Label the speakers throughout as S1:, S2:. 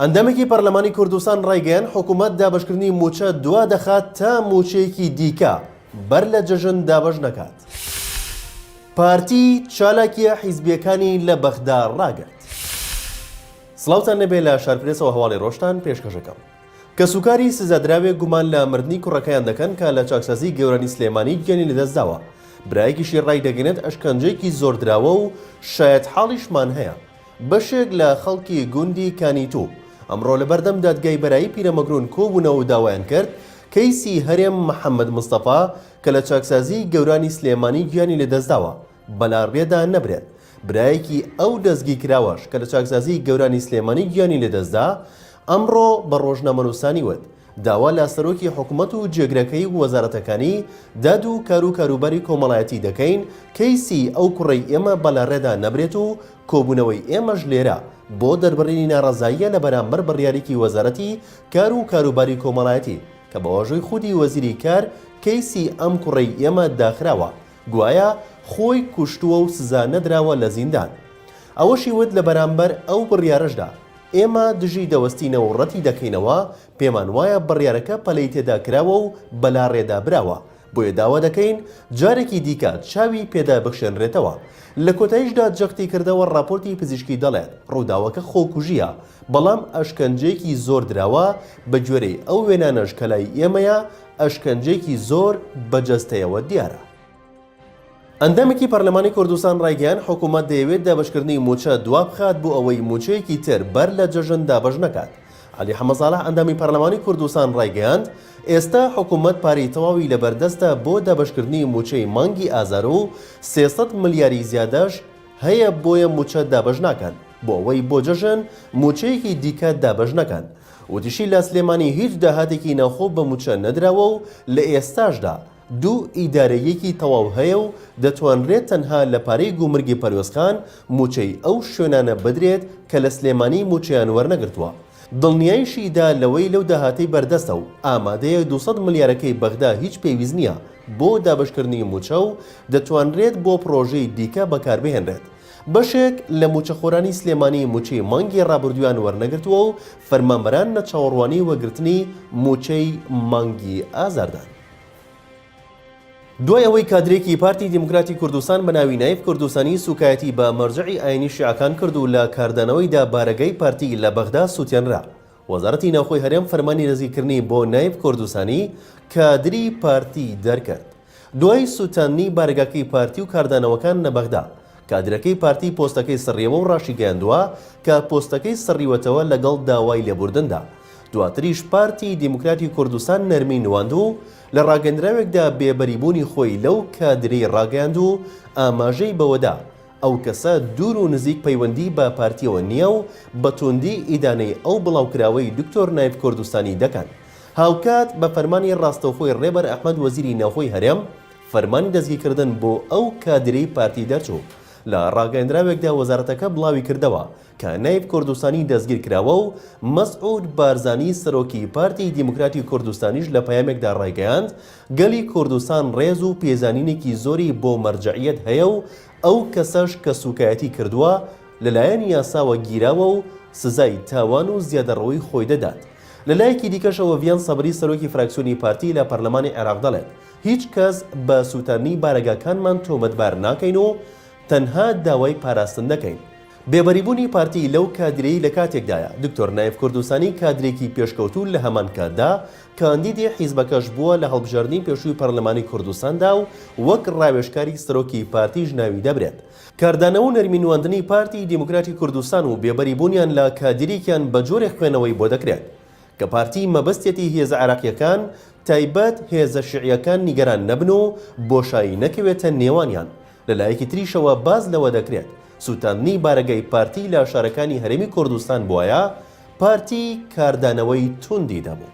S1: ئەندامێکی پەرلەمانی کوردستان ڕایگەیاند، حکومەت دابەشکردنی مووچە دوا دەخات تا مووچەیەکی دیکە بەر لە جەژن دابەش نەکات. پارتی چالاکییە حیزبییەکانی لە بەغدا ڕاگرت. سڵاوتان لێبێ لە شارپرێسەوە هەواڵی ڕۆژتان پێشکەشەکەم. کەسوکاری سزادراوێک گومان لە مردنی کوڕەکەیان دەکەن کە لە چاکسازی گەورانی سلێمانی گیانی لەدەستداوە، برایەکیشی ڕایدەگەنێت ئەشکەنجەیەکی زۆر دراوە و شایەتحاڵیشمان هەیە. بەشێک لە خەڵکی گوندی کانیتو ئەمڕۆ لەبەردەم دادگای بەرایی پیرەمەگرون کۆبوونەوەو داوایان کرد کەیسی هەرێم محەمەد مستەفا کە لە چاکسازی گەورانی سلێمانی گیانی لەدەستداوە بەلاڕێدا نەبرێت برایەکی ئەو دەستگیکراوەش کە لە چاکسازی گەورانی سلێمانی گیانی لەدەستدا ئەمڕۆ بە ڕۆژنامەنوسانی وت داوا لە سەرۆکی حکومەت و جێگرەکەی و وەزارەتەکانی داد و کار و کاروباری کۆمەڵایەتی دەکەین کەیسی ئەو کوڕەی ئێمە بە لە ڕێدا نەبرێت و کۆبوونەوەی ئێمەش لێرە بۆ دەربڕینی ناڕەزاییە لە بەرامبەر بڕیارێکی وەزارەتی کار و کاروباری کۆمەڵایەتی کە بە واژۆی خودی وەزیری کار کەیسی ئەم کوڕەی ئێمە داخراوە گوایە خۆی کوشتووە و سزا نەدراوە لە زیندان. ئەوەشی وت لە بەرامبەر ئەو بڕیارەشدا، ئێمە دژی دەوەستینە و ڕەتی دەکەینەوە، پێمان وایە بڕیارەکە پەلەی تێدا کراوە و بەلاڕێدا براوە، بۆیە داوا دەکەین جارێکی دیکە چاوی پێدا بخشێنرێتەوە. لە کۆتاییشدا جەختی کردەوە ڕاپۆرتی پزیشکی دەڵێت ڕووداوەکە خۆکوژییە، بەڵام ئەشکەنجەیەکی زۆر دراوە، بەگوێرەی ئەو وێنانەش کە لای ئێمەیە ئەشکەنجەیەکی زۆر بە جەستەیەوە دیارە. ئەندامێکی پەرلەمانی کوردستان ڕایگەیاند، حکومەت دەیەوێت دابەشکردنی مووچە دوابخات بۆ ئەوەی مووچەیەکی تر بەر لە جەژن دابەش نەکات. عەلی حەمەساڵح ئەندامی پەرلەمانی کوردستان ڕایگەیاند، ئێستا حکومەت پارەی تەواوی لەبەردەستە بۆ دابەشکردنی مووچەی مانگی ئازار و سێ سەد ملیاری زیادەش هەیە بۆیە مووچە دابەش ناکەن بۆ ئەوەی بۆ جەژن مووچەیەکی دیکە دابەش نەکەن. وتیشی، لە سلێمانی هیچ داهاتێکی ناوخۆ بە مووچە نەدراوە و لە ئێستاشدا دوو ئیدارەییەکی تەواو هەیە و دەتوانرێت تەنها لە پارەی گومرگی پەروێزخان مووچەی ئەو شوێنانە بدرێت کە لە سلێمانی مووچەیان وەرنەگرتووە. دڵنیایشی دا لەوەی لەو داهاتەی بەردەستە و ئامادەیە دوو سەد ملیارەکەی بەغدا هیچ پێویست نییە بۆ دابەشکردنی مووچە و دەتوانرێت بۆ پڕۆژەی دیکە بەکاربهێنرێت. بەشێک لە مووچەخۆرانی سلێمانی مووچەی مانگی رابردوویان وەرنەگرتووە و فەرمانبەران لە چاوەڕوانی وەگرتنی مووچەی مانگی ئازاردان. دوای ئەوەی کادرێکی پارتی دیموکراتی کوردستان بە ناوی نایف کوردستانی سووکایەتی بە مەرجەعی ئاینی شیعەکان کرد و لە کاردانەوەیدا بارەگای پارتی لە بەغدا سووتێنرا، وەزارەتی ناوخۆی هەرێم فەرمانی دەستگیرکردنی بۆ نایف کوردستانی کادری پارتی دەرکرد. دوای سووتاندنی بارەگاکەی پارتی و کاردانەوەکان لە بەغدا، کادرەکەی پارتی پۆستەکەی سڕیەوە و راشیگەیاندووە کە پۆستەکەی سڕیوەتەوە لەگەڵ داوای لێبوردندا. دواتریش پارتی دیموکراتی کوردستان نەرمی نواند و لە راگەندراوێکدا بێبەریبوونی خۆی لەو کادرەی راگەیاند و ئاماژەی بەوەدا ئەو کەسە دوور و نزیک پەیوەندی بە پارتیەوە نییە و بە توندی ئیدانەی ئەو بڵاوکراوەی دکتۆر نایف کوردستانی دەکەن. هاوکات بە فەرمانی راستەوخۆی رێبەر ئەحمەد وەزیری ناوخۆی هەرێم، فەرمانی دەستگیرکردن بۆ ئەو کادیرەی پارتی دەرچوو. لە ڕاگەیەندراوێکدا وەزارەتەکە بڵاویکردەوە کە نایب کوردستانی دەستگیرکراوە و مەسعود بارزانی سەرۆکی پارتی دیموکراتی کوردستانیش لە پەیامێکدا ڕایگەیاند گەلی کوردستان ڕێز و پێزانینێکی زۆری بۆ مەرجەعیەت هەیە و ئەو کەسەش کە سوکایەتی کردووە لەلایەن یاساوە گیراوە و سزای تاوان و زیادەڕۆیی خۆی دەدات. لەلایەکی دیکەشەوە ڤیان سەبری سەرۆکی فراکسیۆنی پارتی لە پەرلەمانی عێراق دەڵێت، هیچ کەس بە سووتاندنی بارەگاکانمان تۆمەتبار ناکەین و تەنها داوای پاراستن دەکەین. بێبەریبوونی پارتی لەو کادیرەی لە کاتێکدایە، دکتۆر نایف کوردستانی کادرێکی پێشکەوتوو لە هەمان کاتدا کاندیدی حیزبەکەش بووە لە هەڵبژاردنی پێشووی پەرلەمانی کوردستاندا و وەک ڕاوێژکاری سەرۆکی پارتیش ناوی دەبرێت. کاردانەوە و نەرمی نواندنی پارتی دیموکراتی کوردستان و بێبەریبوونیان لە کادیرێکیان بە جۆرێک خوێنەوەی بۆ دەکرێت. کە پارتی مەبەستیەتی هێزە عێراقیەکان تایبەت هێزە شیعیەکان نیگەران نەبن و بۆشایی نەکەوێتە نێوانیان، لە لایەکی تریشەوە باس لەوە دەکرێت سوتاندنی بارەگای پارتی لە شارەکانی هەرێمی کوردستان بوایە پارتی کاردانەوەی توندی دەبوو.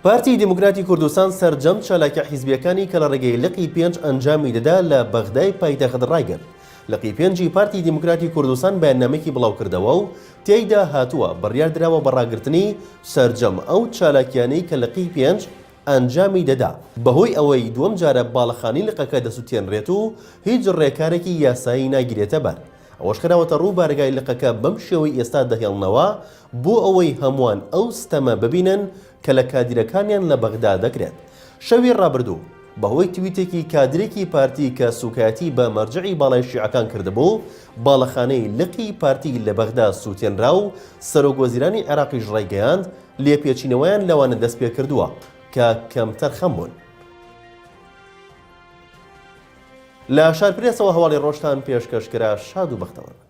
S1: پارتی دیموکراتی کوردستان سەرجەم چالاکیە حیزبیەکانی کە لە ڕێگەی لقی پێنج ئەنجامی دەدا لە بەغدای پایتەخت ڕایگرت لقی پێنجی پارتی دیموکراتی کوردستان بەیاننامەکی بڵاوکردەوە و تێیدا هاتووە بڕیار دراوە بە ڕاگرتنی سەرجەم ئەو چالاکیانەی کە لقی پێنج ئەنجامی دەدا بەهۆی ئەوەی دووەم جارە باڵەخانەی لقەکە دەسوتێنرێت و هیچ ڕێکارێکی یاسایی ناگیرێتەبەر. ئەوەش خراوەتە ڕوو بارەگای لقەکە بەم شێوەی ئێستا دەهێڵنەوە بۆ ئەوەی هەمووان ئەو ستەمە ببینن کە لە کادیرەکانیان لە بەغدا دەکرێت. شەوی ڕابردوو بەهۆی تویتێکی کادیرێکی پارتی کە سوکایەتی بە مەرجەعی باڵای شیعەکان کردبوو، باڵەخانەی لقی پارتی لە بەغدا سوتێنرا و سەرۆک وەزیرانی عێراقیش ڕایگەیاند لێپێچینەوەیان لەوانە دەستپێکردووە کە کەمتەرخەم بوون. لە شار پرێسەوە هەواڵی ڕۆژتان پێشکەش کرا شاد و بەختەوەر بن.